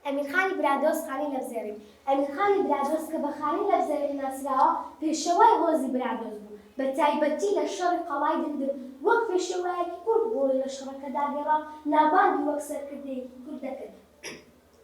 ئەمیرخانی برادۆست خانی لەپزێڕین ئەمیرخانی برادۆست کە بە خانی لەپزێڕین ناسراوە، پێشەوای هۆزی برادۆست بوو، بە تایبەتی لە شەڕی قەڵای دندن وەک پێشەوایەکی کورد ڕۆڵی لە شەڕەکەدا گێڕا و ناوبانگی وەک سەرکردەیەکی کورد دەکرد.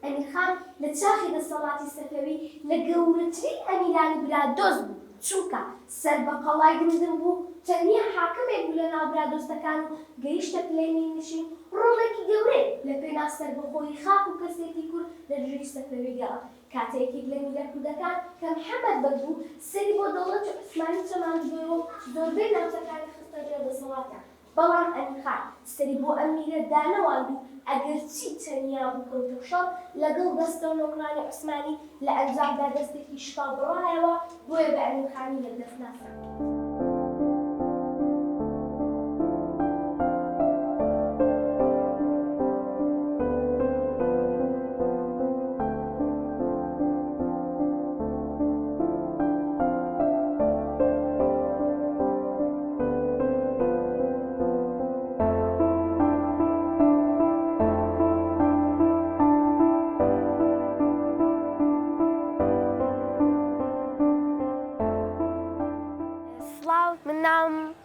ئەمیرخان لە چاخی دەسەڵاتی سەفەوی لە گەورەترین ئەمیرانی برادۆست بوو، چونکە سەر بە قەڵای دمدم بوو، تەنیا حاکمێک بوو لە ناو برادۆستەکان و گەیشتە پلەی میرنشین، ڕۆڵێکی گەورەی لە پێناو سەربەخۆیی خاک و کەسێتی کورد لە دژی سەفەوی گەڕا. کاتێ یەکێک لە میرە کوردەکان کە محەمەد بەگ بوو، سەری بۆ دەوڵەتی عوسمانی چەماندبوویەوە و زۆربەی ناوچەکانی خستە ژێر دەسەڵاتە بەڵام ئەمین خان سەری بۆ ئەم میرە دانەواند و ئەگەرچی تەنیا بوو کەوتە شەڕ لەگەڵ دەستە و نۆکرانی عوسمانی، لە ئەنجامدا دەستێکی شکا بڕایەوە، بۆیە بە ئەمین خانی یەکدەست ناسراوە.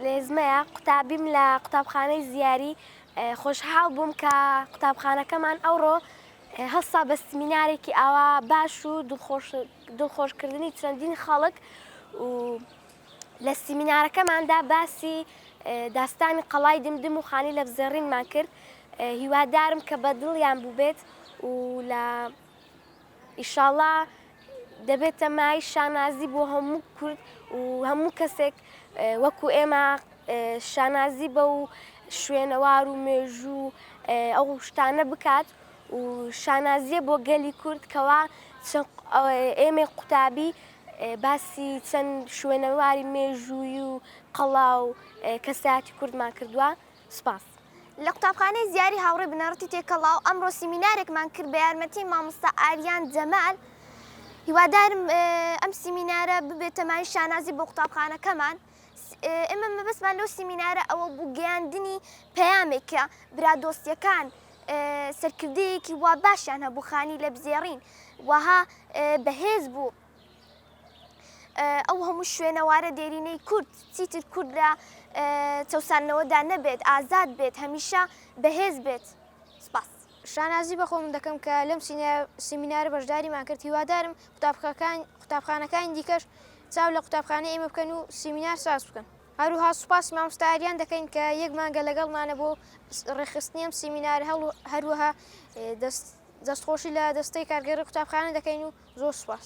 لێزمەیە قوتابیم لە قوتابخانەی زیاری خۆشحاڵ بووم کە قوتابخانەکەمان ئەوڕۆ هەستا بە سمینارێکی ئاوا باش و دڵخۆشکردنی چەندین خەڵک و لە سیمینارەکەماندا باسی داستانی قەڵای دمدم و خانی لەفزێڕینمان کرد هیوادارم کە بە دڵیان بووبێت و لە ئیشاڵا دەبێتە مای شانازی بۆ هەموو کورد و هەموو کەسێک وەکو ئێمە شانازی بە و شوێنەوار و مێژوو ئەو شتانە بکات و شانازیە بۆ گەلی کورد کەوا ئێمەی قوتابی باسی چەند شوێنەواری مێژووی و قەڵا و کەسایەتی کوردمان کردووە سپاس. لە قوتابخانەی زیاری هاوڕێ بنەڕەتی تێکەڵاو ئەمڕۆ سیمینارێکمان کرد بە یارمەتی مامۆستا ئاریان جەمال هیوادارم ئەم سیمینارە ببێتە مایەی شانازی بۆ قوتابخانەکەمان. ئێمە مەبەستمان لەو سیمینارە ئەوە بوو گەیاندنی پەیامێک کە برادۆستیەکان سەرکردەیەکی وا باشیان هەبوو خانی لە بزێڕین وەها بەهێز بوو ئەو هەموو شوێنەوارە دێرینەی کورد چیتر کورد لە چەسانەوەدا نەبێت ئازاد بێت هەمیشە بەهێز بێت سپاس شانازی بە خۆمن دەکەم کە لەم سیمینارە بەشداریمان کرد، هیوادارم قوتابخانەکانی دیکەش چاو لە قوتابخانەی ئێمە بکەن و سیمینار ساز بکەن. هەروها سوپاسی مامۆستا ئاریان دەکەین کە یەک مانگە لەگەڵمانە بۆ ڕێکخستنی ئەم سیمینارە، هەروەها دەستخۆشی لە دەستەی کارگێڕی قوتابخانە دەکەین و زۆر سوپاس.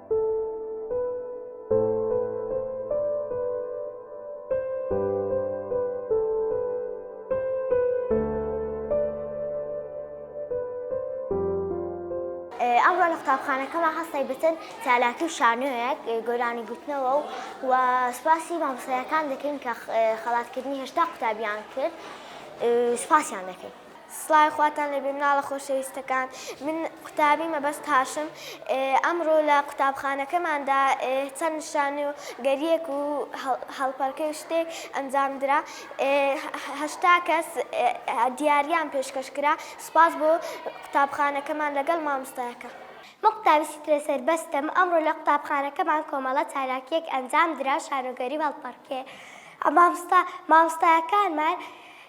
ئەمڕۆ لە قوتابخانەکەمان هەستای بتن چالاکی و شانۆیەک گۆرانی گوتنەوە و و سوپاسی مامۆستایەکان دەکەین کە خەڵاتکردنی هێشتا قوتابیان کرد سوپاسیان دەکەین. سڵاوی خواتان لێبێ مناڵە خۆشەویستەکان من قوتابی مەبەست هاشم ئەمڕۆ لە قوتابخانەکەماندا چەند نیشانە و گەریەک و هەڵپەرکەی و شتێک ئەنجامدرا هەشتا کەس دیاریان پێشکەش کرا سپاس بۆ قوتابخانەکەمان لەگەڵ مامۆستایەکە من قوتابی سیترە سەربەستم ئەمڕۆ لە قوتابخانەکەمان کۆمەڵە چالاکیەک ئەنجامدرا شانۆگەری و هەڵپەڕکێ مامۆستا مامۆستایەکانمان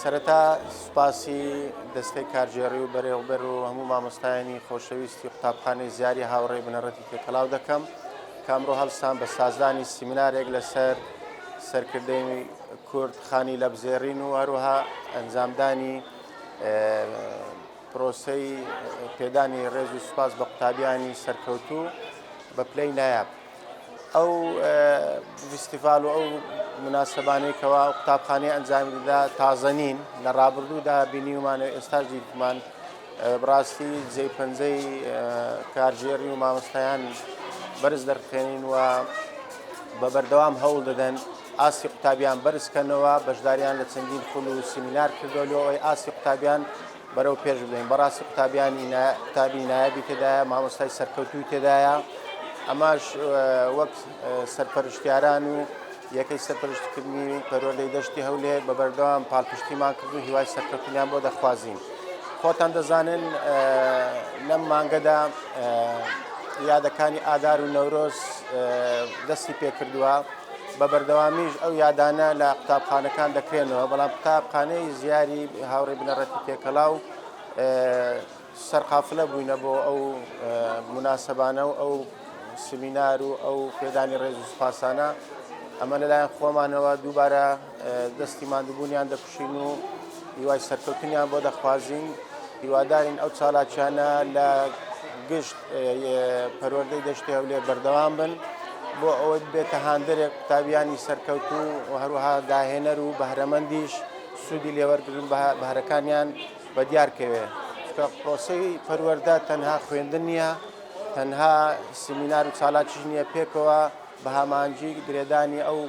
سەرەتا سوپاسی دەستەی کارگێڕی و بەرێوبەر و هەموو مامۆستایانی خۆشەویستی قوتابخانەی زیاری هاوڕێی بنەڕەتی تێکەڵاو دەکەم کامڕۆ هەڵسان بە سازدانی سیمنارێک لەسەر سەرکردەی کورد خانی لەبزێڕین و هەروها ئەنجامدانی پرۆسەی پێدانی ڕێز و سوپاس بە قوتابیانی سەرکەوتوو بە پلەی نایاب ئەو فیستیڤاڵ و ئەو مناسبانەی کەوا قوتابخانەی ئەنجامی دەدا تازە نین لە ڕابردوودا بینیومان و ئێستا دیتمان بڕاستی جێ پەنجەی کارژێری و مامۆستایان بەرز دەرخێنین و بە بەردەوام هەوڵ دەدەن ئاستی قوتابیان بەرزکەنەوە بەشداریان لە چەندین خول و سیمینار کردۆلیەوەی ئاستی قوتابیان بەرەو پێش بێن بەڕاستی قوتابیانی قوتابی نایبی تێدایە مامۆستای سەرکەوتوی تێدایە ئەماش وەک سەرپەرشتیاران و یەکەی سەرپەرشتکردنی پەروەردەی دەشتی هەولێ بە بەردەوام پاڵپشتیمان کرد و هیوای سەرکەوتنیان بۆ دەخوازین خۆتان دەزانن لەم مانگەدا یادەکانی ئادار و نەورۆز دەستی پێکردووە بە بەردەوامیش ئەو یادانە لە قوتابخانەکان دەکرێنەوە، بەڵام قوتابخانەی زیاری هاوڕێی بنەڕەتی تێکەڵاو سەرقافلە بووینە بۆ ئەو مناسبانە و ئەو سمینار و ئەو پێدانی ڕێز و سپاسانە ئەمە لەلایەن خۆمانەوە دووبارە دەستی مادبوونیان دەکوشین و هیوای سەرکەوتنیان بۆ دەخوازین هیوادارین ئەو چالاکیانە لە گشت پەروەردەی دەشتی هەولێر بەردەوام بن بۆ ئەوەی بێتە هاندەرێک قوتابیانی سەرکەوتو و هەروەها داهێنەر و بەهرەمەندیش سوودی لێوەرگن بەهرەکانیان بە دیارکەوێ کە پرۆسی پەروەەردە تەنها خوێندن نییە تەنها سمینار و چالاکیش نییە پێکەوە بە هامانجی گرێدانی ئەو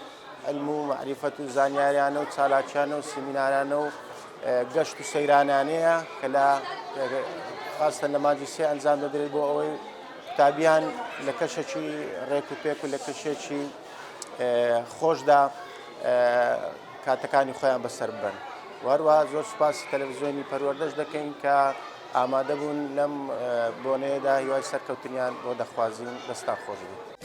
علم و معرفەت و زانیاریانە و چالاکیانە و سیمینارانە و گەشت و سەیرانانەیە کە لە خاستن لە مادی سێ ئەنجام دەدرێت بۆ ئەوەی قوتابیان لە کەشەکی ڕێک و پێک و لە کەشێکی خۆشدا کاتەکانی خۆیان بەسەر بن وەروە زۆر سوپاسی تەلەڤزیۆنی پەروەردەش دەکەین کە ئامادە بوون لەم بۆنەیەدا هیوای سەرکەوتنیان بۆ دەخوازیین دەستان خۆش بوو.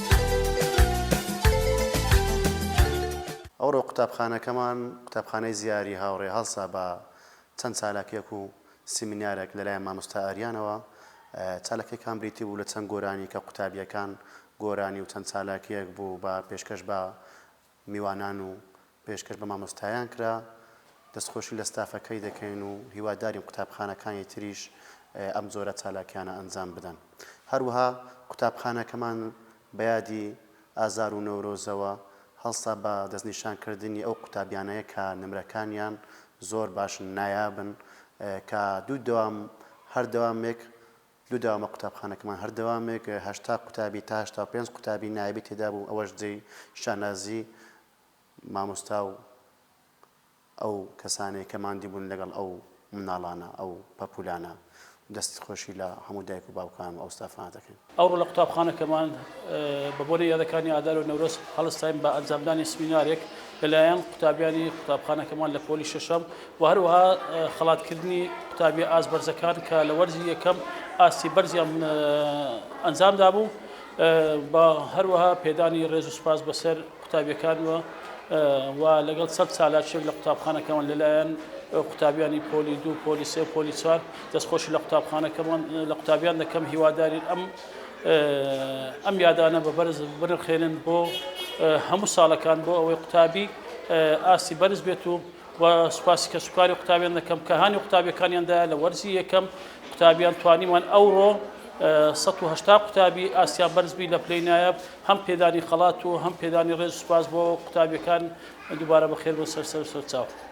ئەوڕۆ قوتابخانەکەمان، قوتابخانەی زیاری هاوڕێ هەڵسا بە چەند چالاکیەک و سیمینارێک لەلایەن مامۆستا ئاریانەوە، چالاکیەکان بریتی بوو لە چەند گۆرانی کە قوتابیەکان گۆرانی و چەند چالاکیەک بوو بە پێشکەش بە میوانان و پێشکەش بە مامۆستایان کرا، دەستخۆشی لە ستافەکەی دەکەین و هیوادارین قوتابخانەکانی تریش ئەم جۆرە چالاکیانە ئەنجام بدەن، هەروەها قوتابخانەکەمان بە یادی ئازار و نەورۆزەوە هەڵسا بە دەستنیشان کردنی ئەو قوتابیانەیە کە نمرەکانیان زۆر باشن نایابن کە دوو دەوام هەر دەوامێک لۆ دەوامە قوتابخانەکەمان هەر دەوامێک هەشتا قوتابی تا هەشتا و پێنج قوتابی نایەبی تێدا بوو ئەوەش جێی شانازی مامۆستا و ئەو کەسانەیە کە ماندی بوون لەگەڵ ئەو مناڵانە ئەو پەپولانە دەست خۆشی لە هەموو دایک و باوکان و ئەو ستافانە دەکەین. ئەوڕۆ لە قوتابخانەکەمان بە بۆنەی یادەکانی ئادار و نەورۆز هەڵستاین بە ئەنجامدانی سمینارێک لەلایەن قوتابیانی قوتابخانەکەمان لە پۆلی شەشەم و هەروەها خەڵاتکردنی قوتابیە ئاست بەرزەکان کە لە وەرزی یەکەم ئاستی بەرزیان ئەنجام دابوو بە هەروەها پێدانی ڕێز و سپاس بەسەر قوتابیەکانوە و لەگەڵ سەد سالاچێک لە قوتابخانەکەمان لەلایەن قوتابیانی پۆلی دوو پۆلی سێ پۆلی چوار دەستخۆشی لە قوتابخانەکەمان لە قوتابیان دەکەم هیوادارین ئەم ئەم یادانە بە بەرز بنرخێنن بۆ هەموو ساڵەکان بۆ ئەوەی قوتابی ئاستی بەرز بێت و و سوپاسی کە سوکاری قوتابیان دەکەم کە هاانی قوتابیەکانیاندا لە وەرزی یەکەم قوتابیان توانیمان ئەوڕۆ 1970 قوتابی ئاسیا بەرزبی لە پلەی نایب هەم پێدانی خەڵات و هەم پێدانی ڕێز سوپاس بۆ قوتابیەکان دووبارە بەخێر بۆ سەرسەر سەرچاو.